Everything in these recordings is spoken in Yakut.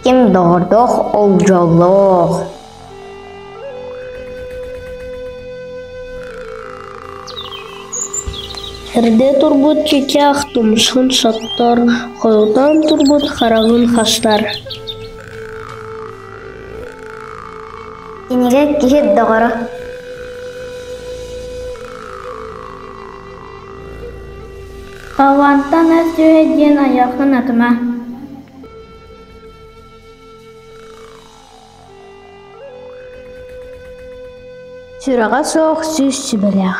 ким доҕордоох ол дьоллоох эрдэ турбут чычах тумшун соттор хойутаан турбут хараҕын хастар Кинигэ киһи доҕоро Холландтан ас сүөһү диэн айылҕын атыма Сүрэҕэ суох сүүс сүбэлээх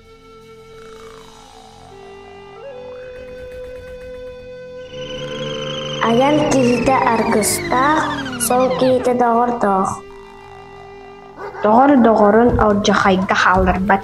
Айан киһитэ аргыстаах, сол киһитэ доҕордоох. Доҕор доҕорун алдьархайга хаалларбат